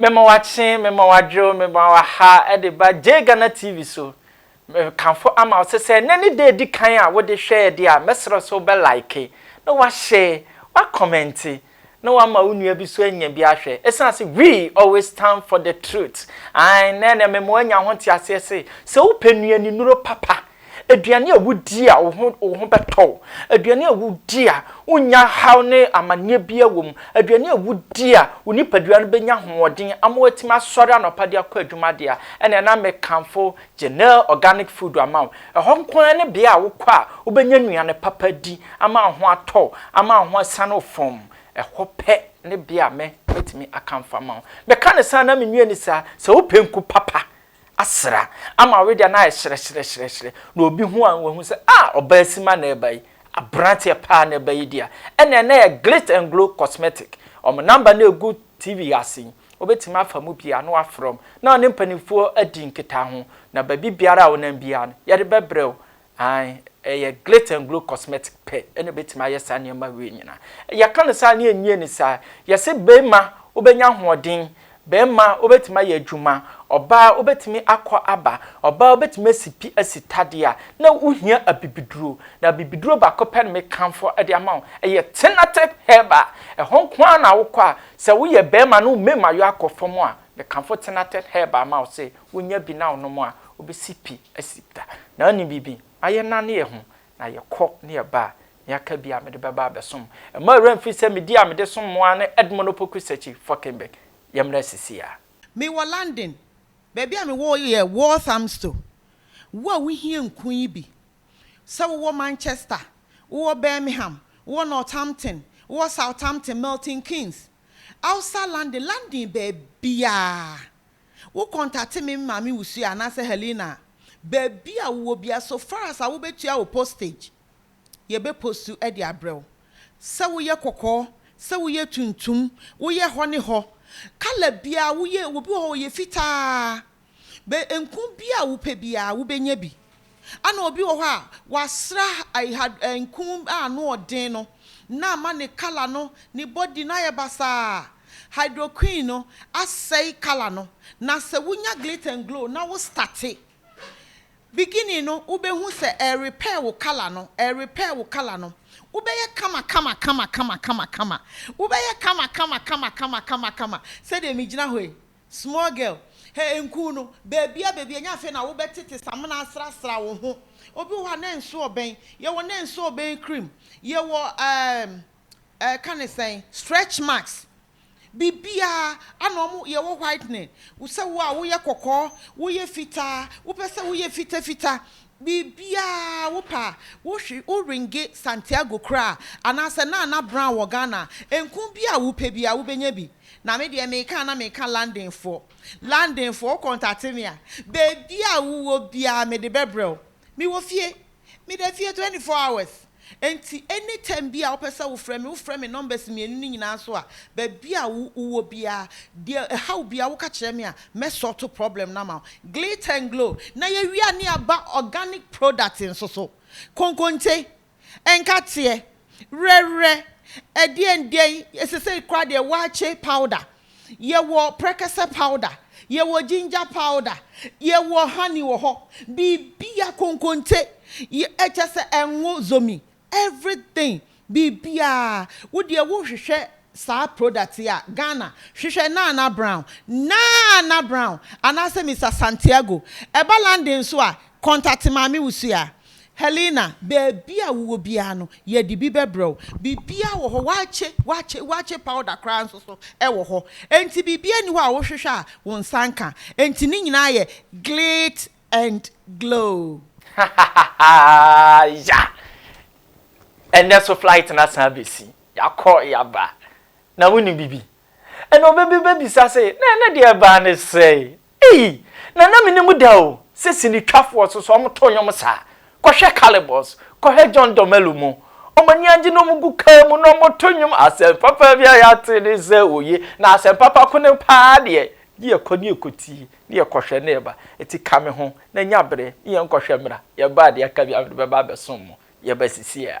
Mema wakye, mema wadwerew, mema waha de ba Jay Ghana TV so. Mekamfo ama wo sɛ sɛ ɛnnɛ ne da a edi kan a wode hwɛ yɛn de a, mɛsrɛ sɛ wobɛ like, na woahyɛ, woakɔmɛnte, na woama wo nua bi nso anya bi ahwɛ. Esiane sɛ we always stand for the truth, ae, nnɛ na ɛmema woanya ho nteaseɛ se, sɛ wopɛ nnuanennuro papa Aduane a wudi a wo ho wo ho bɛtɔ wo, aduane a wudi a wonnya haw ne amanneɛ biara wom, aduane a wudi a wo nipadua no bɛnya ahoɔden ama woatumi asɔre anɔpa de akɔ adwuma deɛ a, ɛnneɛ na mekamfo Genel Organic Food ama wo. Ɛhɔ nko ara ne bea a wokɔ a wobɛnya nnuane papa adi ama wo ho atɔ wo, ama wo ho asiane wo fɔmm. Ɛhɔ pɛ ne bea a mɛ mɛtumi akamfo ama wo. Meka no saa na menwie no saa, sɛ wopɛ nku papa asera ama ɔwe deɛ no ayɛ hyerɛhyerɛhyerɛhyerɛ na obi hu a na wahu sɛ ah ɔbaa sima na ɛba yi aberanteɛ paa na ɛba yi deɛ a ɛnna ɛnna yɛ glit and glow cosmetic wɔn namba na ɛgu tv ase yi wobɛtumi afa mu pii a na wafrɛ wɔn na wɔne mpanimfoɔ adi nkitaho na baabi biara a wonam biara no yɛde bɛbrɛ wo Ae, ɛyɛ Glit and Glow Cosmetics pɛ na ɛbɛtumi ayɛ saa nneɛma wei nyinaa. Yɛka no saa na yɛnnie no saa. Yɛse barima wobɛnya ahoɔden, barima wobɛtumi ayɛ adwuma, ɔbaa wobɛtumi akɔ aba, ɔbaa wobɛtumi asi pi asi tadeɛ a, na wohia abibiduro. Na abibiduro baako pɛ na mekamfo de ama wo, ɛyɛ Tinatif Herbal. Ɛhɔ nko ara na wokɔ a, sɛ woyɛ barima na wo mmemmayɔ akɔ fam a, Mekamfo Tinated Herbal ma wo se wonya bi na wonom a wobesi pi asi da. Na wonim biribi? Na yɛnane yɛn ho na yɛkɔ ne yɛba a, nea aka biara mede bɛba abɛsom. Mma wo werɛ mfi sɛ me din a mede som mo ara ne Edmund Opoku Sechi Fockenberg. Yɛmmra sisiaa. Me wɔ London. Baabi a me wɔ yɛ Walthamstow. Wo a wo hia nku yi bi, sɛ wo wɔ Manchester, wo wɔ Birmingham, wo wɔ Northampton, wo wɔ Southampton, Milton Keynes, Ausa Lande Landen baabiaa wo kɔntate me maame wusu a anaasɛ Helena a baabi a wowɔ bia so far as a wobɛtua wo postage yɛbɛ postu de abrɛ wo sɛ woyɛ kɔkɔɔ sɛ woyɛ tuntum woyɛ hɔ ne hɔ colour biaa woyɛ obi wɔ hɔ ɔyɛ fitaa Benku biara a wopɛ biara, wubenya bi. Ɛnna obi wɔ hɔ a, wɔasra ha nku a ano yɛ den no, na ama ne kala no, ne body no ayɛ basaa. Hydroquin no asɛe kala no. Na sɛ wunya Glit and Glow na wo starte, beginning no, wubehu sɛ ɛrerepair wo kala no, ɛrerepair wo kala no. Wobɛyɛ kama kama kama kama kama kama. Wobɛyɛ kama kama kama kama kama kama. Sɛdeɛ megyina hɔ yi, Small girl, hɛ nkuu no, baabia baabia nyɛ afei na wobɛ tete samena asra sra wo ho, obi wɔ hɔ a na nso ɔbɛn, yɛ wɔ na nso ɔbɛn cream, yɛ wɔ ehm eh ka ne sɛn, stretch marks, biribiaa, ana ɔmo, yɛ wɔ whitening, sɛ wo a wo yɛ kɔkɔɔ, wo yɛ fitaa, wo pɛ sɛ wo yɛ fita fita, Biribiara a wopɛ a, wohwe, wo ringe, Santiago koraa, anaasɛ Nana Brown wɔ Ghana a, nku bi a wopɛ biara wobɛnya bi. Na me deɛ meka a na meka Londonfoɔ. Londonfoɔ, wo kɔntate me a, baabiara a wowɔ biara mede bɛbrɛ wo. Mewɔ fie. Meda fie twenty four hours. Enti anytime biaa wopɛ sɛ wofrɛ me, wofrɛ me numbers mmienu no nyinaa so a, baabi a wo wowɔ biaa, deɛ ɛhaw biaa woka kyerɛ me a, mɛ sort problem no ama wo. Glit and Glow na yɛwie a ne yɛaba organic product nso so. Konkonte, nkateɛ, werɛwerɛ, ɛdeɛn deɛn, sesei koraa deɛ waakye powder. Yɛwɔ prɛkɛsɛ powder, yɛwɔ ginger powder, yɛwɔ honey wɔ hɔ, biribiara, konkonte, kyerɛ sɛ ngo, zomi, everything, biribiara. Wo deɛ wohwehwɛ saa product yi a, Ghana, hwehwɛ Nana Brown, Nana Brown, anaasɛ Mister Santiago. Ɛba London nso a, contact Maame Wusu a. Helena, Baabi a wowɔ biara no, yɛde bi bɛbrɛ wo. Biribiara wɔ hɔ, wɔakye, wɔakye, wɔakye powder koraa nso so wɔ hɔ. Enti biribiara nni hɔ a wohwehwɛ a wo nsa nka. Enti ne nyinaa yɛ glit and glow. Hahahahaa, ya! Ɛnnɛ nso flight no asan abɛsi. Yɛakɔ, yɛaba. Na wonim biribi? Ɛnna obi bɛbisa se, Na ɛnnɛ deɛ ɛbaa ne sɛn? Ei! Na na menim da o sɛ sinitwafoɔ so so wɔto nnwom saa. Kɔhwɛ Calibos, kɔhwɛ John Dumelo mu. Wɔn ani agye na wɔgu kaa mu na wɔto nnwom. Asɛm papa bi a yɛate ne sɛ oye, na asɛm papa ko no pa ara deɛ, ne yɛkɔ ne yɛkɔtie, ne yɛkɔhwɛ na yɛba. Enti ka me ho na nya berɛ ne yɛnkɔhwɛ mmra. Yɛba a deɛ aka biara mede bɛba abɛsom mo. Yɛba sisiiɛ a.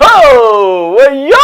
Hoo! Woyo!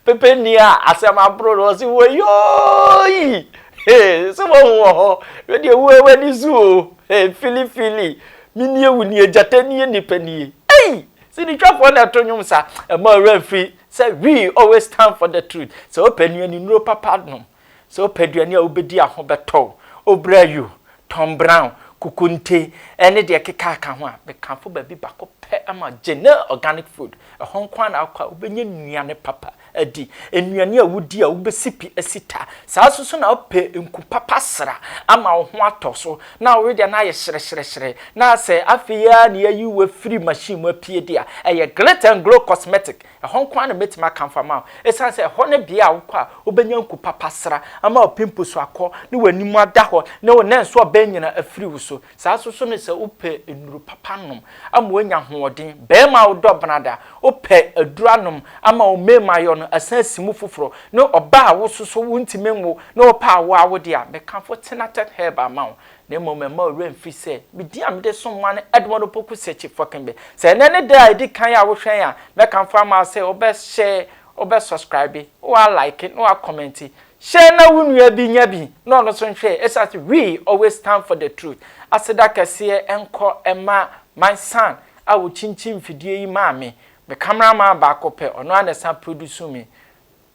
Pepe nni a asɛm aboro no ɔse woyooyi! Hey! Sɛ woahu wɔ hɔ, wedeɛ wo a w'ani so o! Hey! Fili fili! Me nie wo nie, gyata nie nipa nie! Ei! Sinitwafoɔ na ɛto nnwom saa, ɛma ɔwerɛ mfiri sɛ we always stand for the truth, sɛ wopɛ nea ninuro papa nom. Sɛ wopɛ aduane a wobɛdi a ho bɛtɔ wo, obrayu, Tom Brown, kukunte, ne deɛ ɛkeka aka ho a, mekamfo baabi baako pɛ ma wo, Genel Organic Food. Ɛhɔ nko ara na wokɔ a wobɛnya nnuane papa adi. Nnuane a wodi a wobɛsi pi asi ta. Saa nso so na wopɛ nku papa sra ama wo ho atɔ so na wowe deɛ na ayɛ hyerɛhyerɛhyerɛ na sɛ afei ara na yɛayi wo afiri machine mu apue deɛ a, ɛyɛ Glit and Glow Cosmetic Ɛhɔ nko ara na mɛtumi akamfo ama wo, ɛsiane sɛ ɛhɔ ne bea a wokɔ a wobɛnya nku papa sra ama w'apimpo so akɔ ne w'anim ada hɔ ne wo nnɛnso a bɛn nyina afiri wo so. Saa nso so ne sɛ wopɛ nnuru papa nom ama woanya ahoɔden, barima a wodɔ benada, wopɛ aduru anom ama wo mmemayɔ no asan asi mu foforɔ, ne ɔbaa a wososo wontumi nwo ne wopɛ a wo ara wode a, mɛkamfo Tinatet Herbal ama wo. Na mmom mɛma wo werɛ mfi sɛ me din a mede som ma no Edmund Opoku Searcy Fokinbe. Sɛ ɛnnɛ ne da a ɛdi kan a wohwɛn a, mɛkamfo ama wo sɛ wobɛhyɛɛ, wobɛsɔskraibe, na woalaeke, na woakɔmɛnte. Hyɛ na wo nua bi nya bi na ɔno nso nhwɛɛ ɛsiane sɛ we always stand for the truth. Aseda kɛseɛ nkɔ mma my son a ɔkyinkyin mfidie yi maa me. Me camera man baako pɛ, ɔno ara na ɛsan produce me.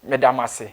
Meda mo ase.